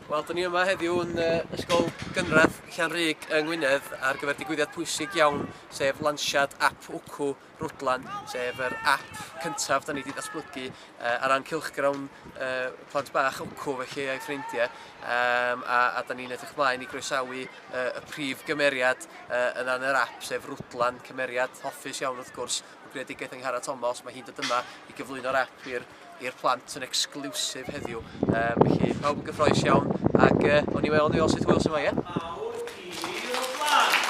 Wel, dyn ni yma heddiw yn uh, ysgol gynradd Llanrug yng Ngwynedd ar gyfer digwyddiad pwysig iawn, sef lansiad app Wcw Rwdlan, sef yr app cyntaf da ni wedi datblygu uh, ar ran cilchgrawn uh, plant bach Wcw felly a'i ffrindiau, um, a, a da ni'n edrych mlaen i groesawu uh, y prif gymeriad uh, yna yn yr app, sef Rwdlan, cymeriad hoffus iawn wrth gwrs, ap, y greadigaeth yng Ngharreg Tomos, mae hi'n dod yma i gyflwyno'r ap i'r i'r plant yn exclusive heddiw. Um, felly, pawb yn gyffroes iawn, ac uh, o'n i weld, ni weld sut hwyl sy'n fwy, ie? Mawr i ni'r o blant!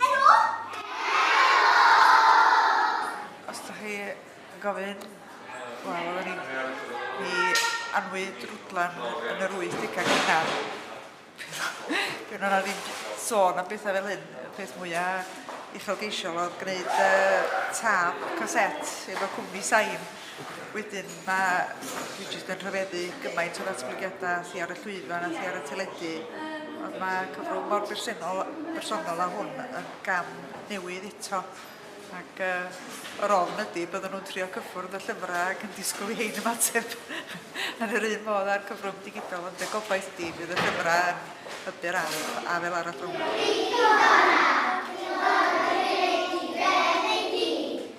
Helo! Os da chi yn gofyn, wel, oedden ni'n ni anwy drwdlan yn yr 80au cynnar. Dwi'n yna ddim sôn am bethau fel hyn. Y peth mwyaf uchelgeisiol oedd gwneud uh, tab caset efo cwmni sain. Wedyn mae... dwi jyst yn rhyfeddu gymaint o ddatblygiadau a thu ar y llwyfan a thu ar y teledu ond mae cyfrwng mor bersennol... bersonol â hwn yn gam newydd eto ac yy yr ofn ydi byddan nhw'n trio cyffwrdd y llyfrau ac yn disgwyl i hein ymateb yn yr un modd â'r cyfrwng digidol ond y gobaith ydi bydd y llyfrau yn hybu'r ardd a fel arall rhwng.